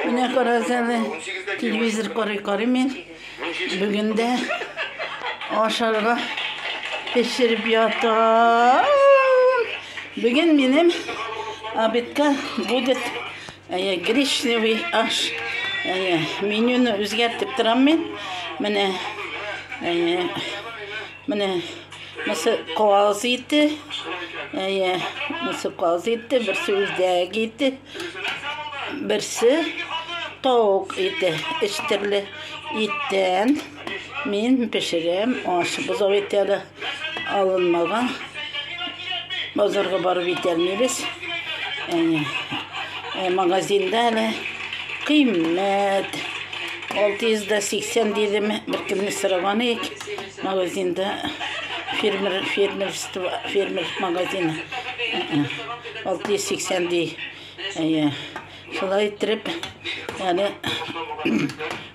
Менә карагыз әле, телевизор карый-карый мин. Бүген дә ашарга пешереп ятам. Бүген минем обедка будет әйе, гречневый аш. Әйе, менюны үзгәртеп торам мин. Менә әйе, менә мысы каз ите. Әйе, мысы каз ите, берсе үзәк ите. Берсе тавык ите, өч төрле иттән мин пешерәм, аш бозау ите әле алынмаган. Базарга барып итәлмибез. Әни, ә, магазинда әле кыйммәт 680 дидем, бер көнне сораган ик, магазинда фермер, фермерство, фермер магазины. 680 ди. Әйе. Шулай иттереп, әле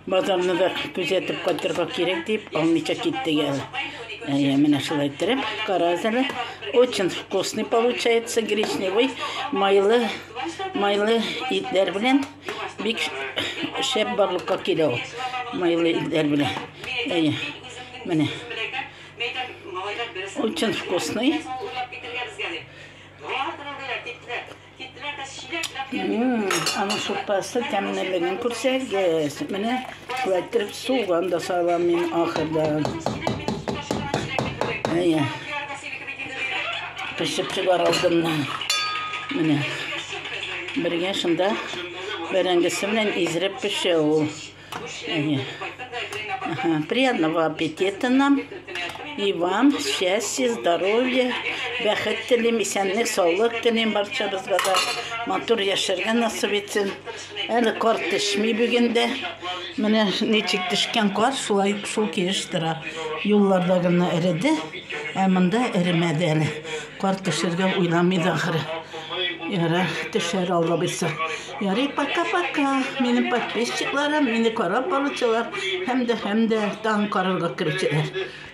базарны да күзәтеп кайтырга кирәк дип, алмыйча китте гел. Әйе, менә шулай иттереп, карагыз әле. Очень вкусный получается гречневый, майлы, майлы итләр белән бик шәп барлыкка килә ул. Майлы итләр белән. Әйе. Менә. Очень вкусный. Аның супасы тәмлелеген күрсәгез. Менә шулайтып суган да салам мин ахырда. Әйе. Пешеп чыгар алдыннан. Менә. Бергә шунда бәрәңгесе белән изреп пешә ул. Приятного аппетита нам. И вам счастья, здоровья, бәхет телим, исәнлек, саулык телим барчабызга да. Матур яшәргә насып итсен. Әле кар төшми бүген дә. Менә ничек төшкән кар, шулай шул килеш тора. Юлларда гына эреде, ә монда эремәде әле. Кар төшергә уйламый да ахры. Ярар, төшәр алла бирса. Ярый пока пока минем подписчикларым мине карап баручылар һәм дә һәм дә таң карарга керүчеләр.